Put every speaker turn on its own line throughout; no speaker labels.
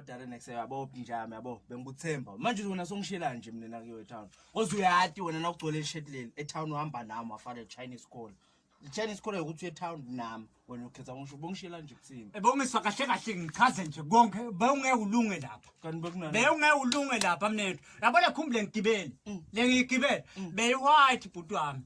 Darren exe yabo njami yabo bengikuthemba manje wena songishela nje mina nakuyo etown oze uyati wena nakugcwele ishirt leli etown uhamba nami wafana Chinese call Chinese call ukuthi etown nami wena ukhetha ngisho bongishela nje kuthini ebongiswa kahle kahle
ngichaze nje konke bewungeke ulunge lapha kanti bekunani bewungeke
ulunge lapha
mnethu yabona khumbule ngigibele mm. lengigibele mm. beyi white bhuti wami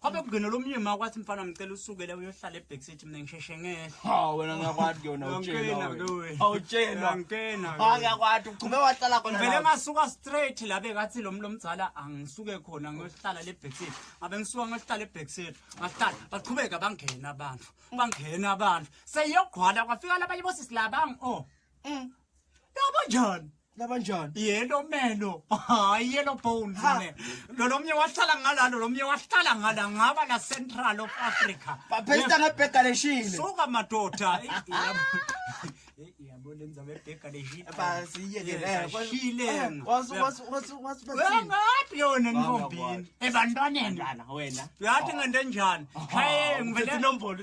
Kwabe kungena lo myeni ma kwathi mfana ngicela usukele uyohlala ebackseat mina ngisheshe ngehla. Ha wena ngiyakwati
kuyona Ngangikena utshela. ke wena. wena. Awutshela. Ngangikena ke Ha wena.
ngiyakwati uqhube
wahlala khona. Ngivele lapho. ngasuka straight
la bekathi lo mlo mzala angisuke khona ngiyohlala le backseat. Ngabe ngisuka ngiyohlala e backseat. Ngahlala baqhubeka bangena abantu. Bangena abantu. Seyogqwala kwafika labanye bosisi laba oh. labanjani labanjani yellow melo hayi yellow bones Ha. ne lolomnye wahlala ngala lolomnye wahlala ngala ngaba la central of africa baphesta ngebhega
leshile suka madoda
Eh, yabo- Eh, yabo lenza bebheka leshile
shile ngaphi yona ntombini
ebantwaneni wena uyathi
ngento enjani
haye ngivele Ngivele nombolo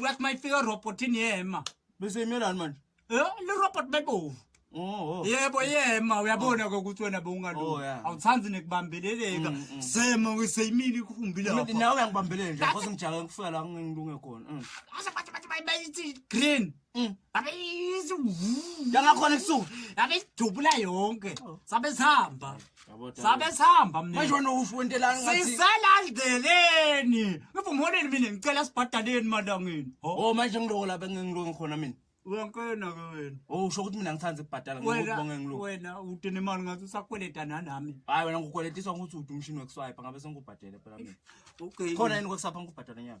Wet my finger robot in yema. Bese imela manje.
Eh, le robot
bebovu. Oh, oh. Yebo yema uyabona ke ukuthi wena bewungalungi. Oh, yeah. Awuthandi nekubambeleleka. Mm, mm. Sema ngiseyimini ikhumbi lapha. Mina nawe uyangibambelele nje,
ngoba ngijake ngifika la ngingilunge khona. Mm. Ase bathi bathi bayithi
green. Mm. Abe yizi. Yangakhona
ebusuku. Abe sidubula
yonke. Oh. Sabe sihamba. Sabe sihamba mina. Manje wena usho
intelani ngathi. Sisalandeleni.
Ngivumholeni mina ngicela sibhadaleni malangeni. Oh manje ngiloko lapha
ngingiloko khona mina. Wankena ke
wena. Oh usho ukuthi mina ngithanda
ukubhadala ngokubonga ngiloko. Wena udene imali
ngathi usakweleta nanami. Hayi wena ngikweletisa
ukuthi uthi umshini wekuswipe ngabe sengikubhadele phela mina. Okay. Khona yini
kwesapha ngikubhadala
nyaka?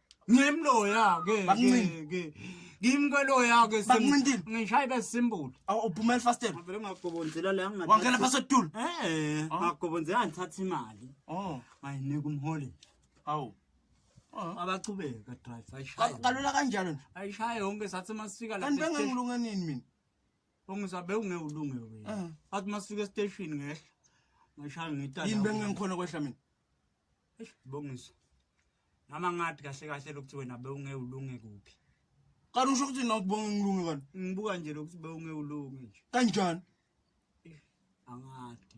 ngimloya ke Bakuncini. ke ngimkweloya ke sim- Bakuncintile. ngishaye besimbulu Awu uphumela ifastela.
ngivele ngagobonzela
la ngingathatha- Wangena phasi etulo.
eh Oh. ngagobonzela
ngithatha imali Oh, ngayinika umholi awu.
Oh.
abachubeka drive Ka- ayishaye Kalula kanjalo nje.
ayishaye yonke sathi
masifika la Kanti bengangilunga nini mina?
ongizabe
ungewulunge Eh. wena athi masifika estation ngehla ngishaya ngita Yini bengengikhona kwehla
mina? eish
bongiso noma ngathi kahle kahle lokuthi wena bewunge ulunge kuphi kanti usho ukuthi
nawe ubonga ngilunge kanti ngibuka
nje lokuthi bewunge
ulunge
nje
kanjani
angathi